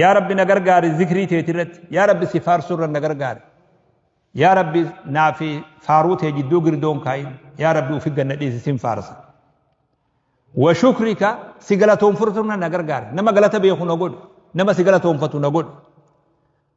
yaa rabbi na gargaari zikrii teeti irratti yaa rabbi si faarsuu irra na gargaari yaa rabbi naa fi faaruu tee jidduu girdoon kaayin yaa rabbi ufi ganna dhiisi sin faarsa wa shukrika si galatoonfurtu irra na gargaari nama galata beeku na godhu nama si galatoonfatu na godhu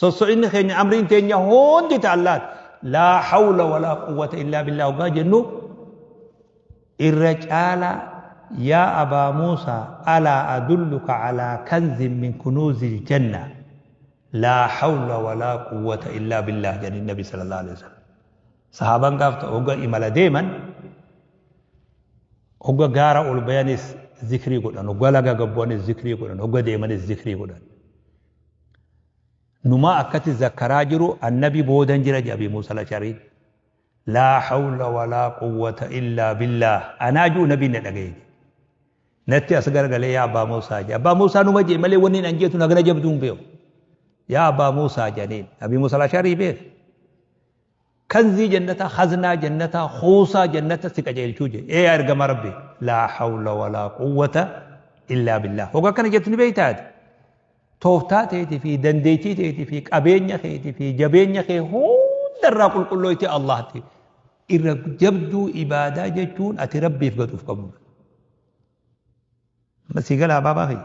Sosso'inni keenya amriin teenya hundi ta Allaati. Laa hawla walaa quwwata illaa billaa hoggaa jennu irra caalaa yaa abaa Muusaa alaa adulluka alaa kanzin min kunuuzil janna laa hawla walaa quwwata illaa billaa jedhin nabi sallallahu alaihi wasallam. Sahaaban gaafta hogga imala deeman hogga gaara ol bayanis zikrii godhan hogga laga gabbu'anis zikrii godhan hogga deemanis zikrii godhan. Numaa akkati zakkaraa jiru annabi boodan jira jedha Abi Muusa Lashariin. Laa hawla walaa quwwata illaa billaah anaa jiru nabiin na dhagaye jedhe. Natti as garagalee yaa Abbaa Muusaa jedhe. Abbaa Muusaa numa jedhe malee wanni an jeetu nagana jabduu hin beeku. Yaa Abbaa Muusaa jedhaniin. Abi Muusa Lasharii beeka. Kanzii jannataa, khaznaa jannataa, khuusaa jannata si qajeelchuu je. Ee yaa ergamaa Rabbii! Laa hawla wa laa quwwata illaa billaah. Hoga akkana jettu ni beeytaa ati? Tooftaa teeti fi dandeechii teeti fi qabeenya keeti fi jabeenya kee hunda irraa qulqullooyti Allahti. Irra jabduu ibaadaa jechuun ati Rabbiif gaduuf qabudha. Amma sii galaa baabaa kiyya.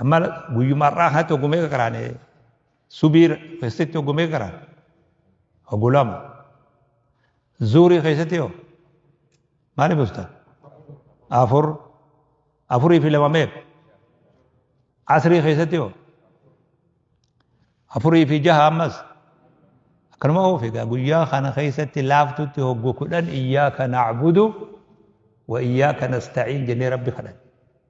Amma guyyuma har'aa kanatti hogguu meeqa qaraane subii keessatti hogguu meeqa qaraane hogguu lama zuurii keessatti hoo maali busta afur afurii fi lama meeqa asrii keessatti hoo afurii fi jaha ammas akkanuma hoo figaa guyyaa kana keessatti laaftutti hogguu kudhan iyyaaka nacbudu wa iyyaaka nastaciin jennee rabbi kadhanne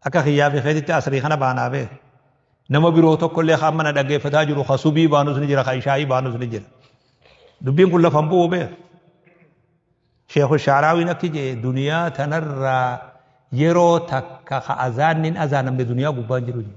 Akka kiyyaa fi keetitti asrii kana baanaa bee. Nama biroo tokkollee ka amma na dhaggeeffataa jiru ka subii baanus ni jira ka ishaa'ii baanus ni jira. Dubbiin kun lafan bu'u bee. Sheekhu Shaaraawiin akki jee duniyaa tanarraa yeroo takka ka azaannin azaanamne duniyaa gubbaan jiru jee.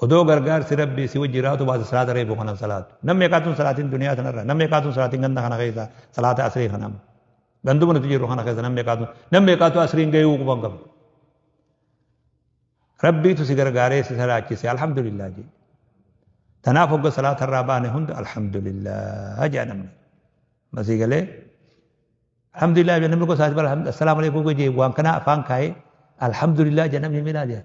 Odoo gargaarsi rabbii si wajji jiraatu baate salaata reefu kanan salaatu. Nam meeqaatun salaatiin duniyaa tanarra nam meeqaatun salaatiin ganda kana keessa salaata asrii kanam. Ganduma nuti jirru kana keessa nam meeqaatun nam meeqaatu asriin gayuu quban qabu. Rabbiitu si gargaaree si salaachise alhamdulillah jedhe. Tanaaf hogga salaata irraa baane hunda alhamdulillah jedha namni. Masii galee alhamdulillah jedha namni gosa assalaamu alaikum jedhe waan kana afaan kaa'ee alhamdulillah jedha namni miilaa jedha.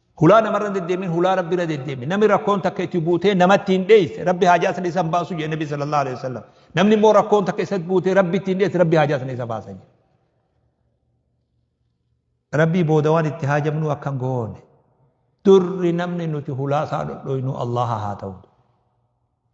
Hulaa namarra hin deddeemin hulaa rabbi irra deddeemi. Namni rakkoon takka itti buutee namatti hin dheesse rabbi haajaa sana isan baasu jedhe nabi sallallahu alaihi wasallam. Namni immoo rakkoon takka isatti buutee rabbi itti hin dheesse rabbi haajaa sana isa baasa jedhe. Rabbii booda waan itti haajamnu akkan goone. Durri namni nuti hulaa isaa dhodhoynu Allaha haa ta'u.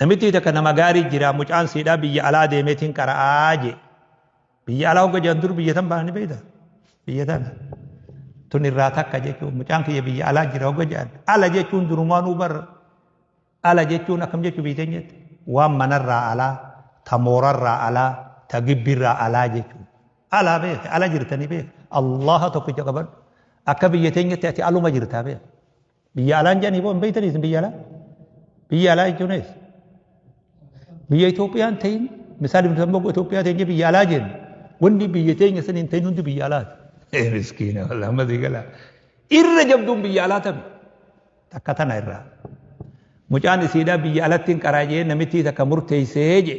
Namittii takka nama gaarii jira mucaan siidhaa biyya alaa deemeetiin qara'aa jee. Biyya alaa hogga jedhan dur biyya tan baana ni beeyta. Biyya tana. Tun irraa takka jechuun mucaan kiyya biyya alaa jira hogga jedhan. Ala jechuun durumaanuu bar ala jechuun akkam jechuu biyya teenyatti. Waan manarraa alaa, ta moorarraa alaa, ta gibbirraa alaa jechuun. Alaa beeke, ala jirtanii beeke. Allaha tokkicha qabadhu. Akka biyya teenyatti ati aluma jirtaa beeke. Biyya alaan jedhanii boo hin beektanii isin biyya alaa? Biyya alaa jechuun eessa? Biyya Itoophiyaan ta'in misaal bilisummaa boo Itoophiyaa ta'in jee biyya alaa jennu wanni biyya teenya san hin ta'in hundi biyya alaati. Eh miskiina wallah amma sii galaa. Irra jabduun biyya alaa tami. Takka tana irraa. Mucaan isiidhaa biyya alatti hin qaraa jee namittii takka murteessee jee.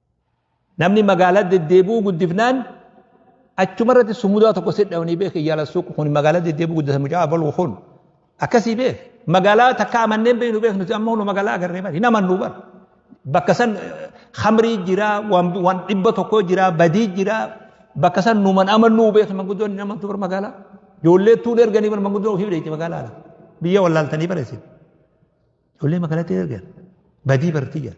Namni magaalaa deddeebi'uu guddifnaan achuma irratti sumudaa tokko sidhamanii beeke yaala suuq kun magaalaa deddeebi'uu guddisa mucaa abaluu kun akkasii beeke magaalaa takka amanneen beeknu beeknu nuti amma hunu magaalaa agarree bari nama nu bara bakka san hamrii jira waan dhibba tokko jira badii jira bakka san numan amannuu beeknu manguddoon nama tu bar magaalaa ijoollee tuun erganii bar manguddoo ofii beekti magaalaa biyya wallaaltanii bareessin ijoollee magaalatti ergan badii bartii jira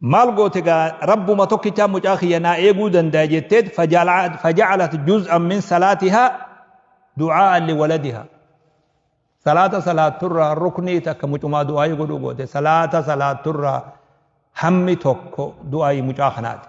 maal goote gaa rabbuma tokkichaa mucaa kiyya naa eeguu danda'a jetteet fajacalat juz'an min salaatihaa du'aa'an liwaladihaa salaata salaatturraa ruknii takka mucumaa du'aa'ii godhuu goote salaata salaatturraa hammi tokko du'aa'ii mucaa kanaati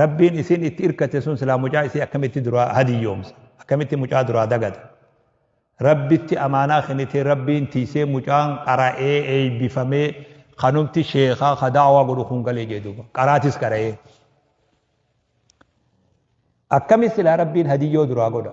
Rabbiin isiin itti irkate sun silaa mucaa isii akkamitti duraa hadiyyoomsa akkamitti mucaa duraa dagata rabbitti amaanaa kenitee rabbiin tiisee mucaan qara'ee eeybifamee kanumti sheekaa ka daawaa godhu kun galee jee duuba qaraatis qara'ee akkami silaa rabbiin hadiyyoo duraa godha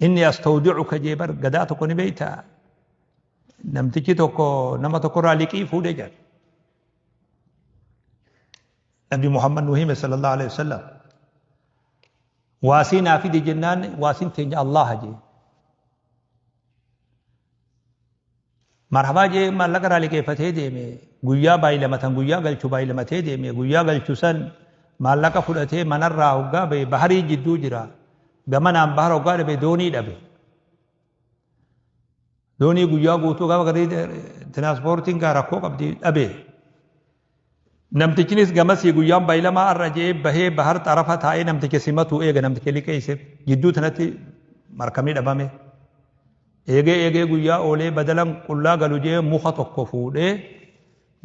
Inni astawdicuka jee bar gadaa tokko ni beeyta. Namtichi tokko nama tokkorraa liqii fuudhe jedha. Nabi Muhammad nu hime sallallahu alaihi wasallam. Waasii naa fide jennaan waasiin teenya Allaha jee. Marhabaa jee maallaqa irraa liqeeffatee deeme guyyaa baay'ilamatan guyyaa galchu baay'ilamatee deeme guyyaa galchu san maallaqa fudhatee manarraa hoggaa ba'e baharii jidduu jira gamanaan bahara hoggaa dhabe doonii dhabe doonii guyyaa guutuu gaafa garrii tiraaspoortiin gaa rakkoo qabdi dhabe Namtichinis gamasii guyyaan baylamaa ar'a je'ee bahee bahar xarafa taa'ee namticha simatuu eega namticha liqeeyseef jidduu tanatti markabni dhabame. Eegee eegee guyyaa oolee badalan qullaa galu je'ee muka tokko fuudhee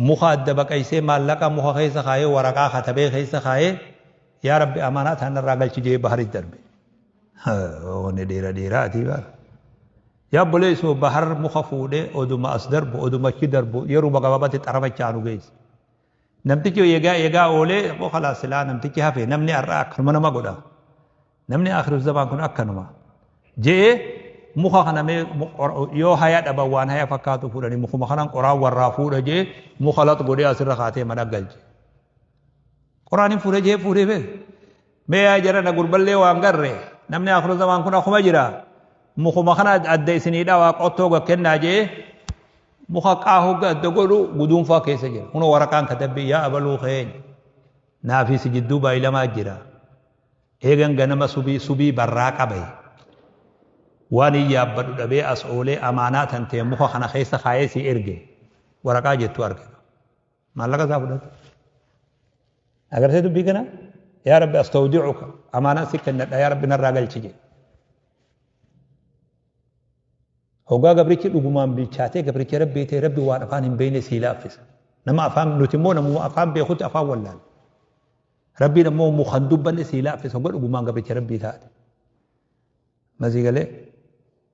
muka adda baqaysee maallaqa muka keessa kaayee waraqaa katabee keessa kaayee yaa rabbi amaanaa taanarraa galchi je'ee baharis darbe. Haa, Onni dheera dheeraa ati baara. Yaa obboleessoo Bahar muka fuudhee oduma as darbu oduma achi darbu yeruma gabaabatti xarafa itti aanu geesse. Namtichi eegaa eegaa oolee immoo kalaas silaa namtichi hafe namni har'aa akkanuma nama godha. Namni akhiru zamaan kun akkanuma. Je'ee muka kana mee yoo haya dhaban waan haya fakkaatu fuudhanii mukuma kanaan qoraan warraa fuudha je'ee muka lax godhee asirra kaatee mana galche. Qur'aaniin fuudhee jee fuudhee bee. Mee yaa jarana gurballee waan garre namni akhiru zamaan kun akkuma jira mukuma kana adda isinii dhawaa qottoo ga kennaa jee muka qaahuu ga adda godhu guduunfaa keessa jira. Kunoo waraqaan katabbii yaa abaluu keenya naafii si jidduu baayilamaa jira. Eegan ganama subii subii barraa qabe. Waan hin yaabbadhu dhabee as oolee amaanaa tantee muka kana keessa kaayee si erge waraqaa jettu arge. Maallaqa isaa fudhate. Agarsee dubbii kana yaa rabbi astawdicuka amaanaa si kennadha yaa rabbi narraa galchi jedhe. Hoggaa gabrichi dhugumaan bilchaatee gabricha rabbii ta'e rabbi waan afaan hin beekne sii laaffisa. Nama afaan nuti immoo namuma afaan beekutti afaan wallaala. Rabbiin ammoo mu kan dubbanne sii laaffisa hogga dhugumaan gabricha rabbii taate. Masii galee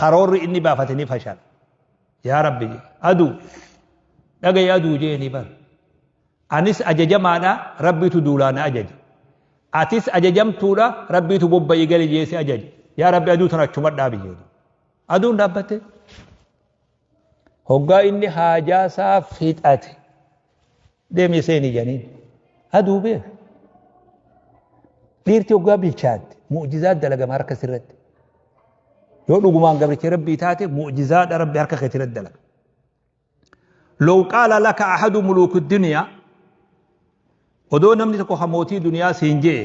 karoorri inni baafate ni fashala yaa rabbi jee aduu dhagayi aduu jeeni bar anis ajajamaadha rabbiitu duulaa na ajaje atis ajajamtuudha rabbiitu bobba'i gali jeesi ajaje yaa rabbi aduu tana achumadhaa biyyeedu aduun dhaabbattee Hoggaa inni haajaa isaa fixate deemee seeni janiin. Aduu beeka. Dhiirti hoggaa bilchaatte mu'jizaa dalagama harka sirratti. Yoo dhugumaan gabricha rabbii taate mu'jizaadha rabbi harka keetii irratti dalaga. Law qaala laka ahadu muluuku duniyaa odoo namni tokko kan mootii duniyaa siin je'e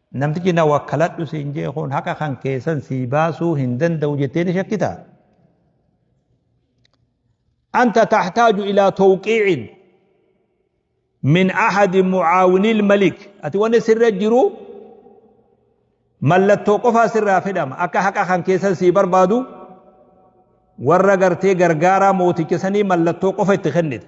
Namtichi na wakkaladhu siin jee kun haqa kan keessan sii baasuu hin danda'u jettee ni shakkita. Anta taxtaaju ilaa tawqiicin min ahadi mucaawinil malik ati wanni sirra jiru mallattoo qofaa sirraa fedhama akka haqa kan keessan sii barbaadu warra gartee gargaaraa mooticha sanii mallattoo qofa itti kennita.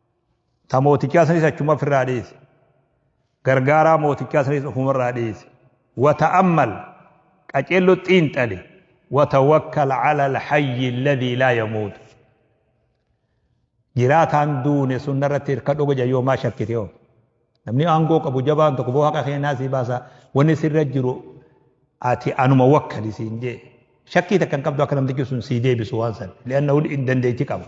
Ta mootichaa sanis achuma ofirraa dhiisi. Gargaaraa mootichaa sanis ofumarraa dhiisi. Wata'ammal qaceello xiinxali. Watawakkal alal hayyi alladhii laa yamuutu. Jiraataan duune sun narratti hirkadhu goja yoomaa shakkite hoo. Namni aangoo qabu jabaan tokko boo haqa keenyaa sii baasa wanni sirra jiru ati anuma wakkali siin jee. Shakkii takka hin qabdu akka namtichi sun sii deebisu waan san. Li'anna dandeetti qaba.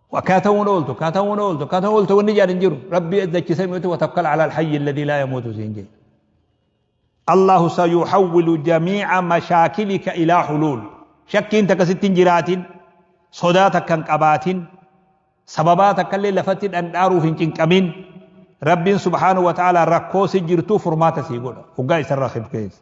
Akkaataa ta'uun ooltu, akkaataa ta'uun ooltu, akkaataa ta'uun ooltu wanni jedhan jiru. Rabbi dachisee mi'ootu watakkal ala alhayyi alladhi laa yamuutu siin jedhe. Allahu sayuhawwilu jamiica mashaakilika ilaa huluul. Shakkiin takka sitti hin jiraatin, sodaa takka hin qabaatin, sababaa takka illee lafatti dhandhaaruuf hin cinqamin. Rabbiin subhaanahu wa ta'ala rakkoo si jirtuu furmaata sii godha. Hoggaa isarraa kibkeessa.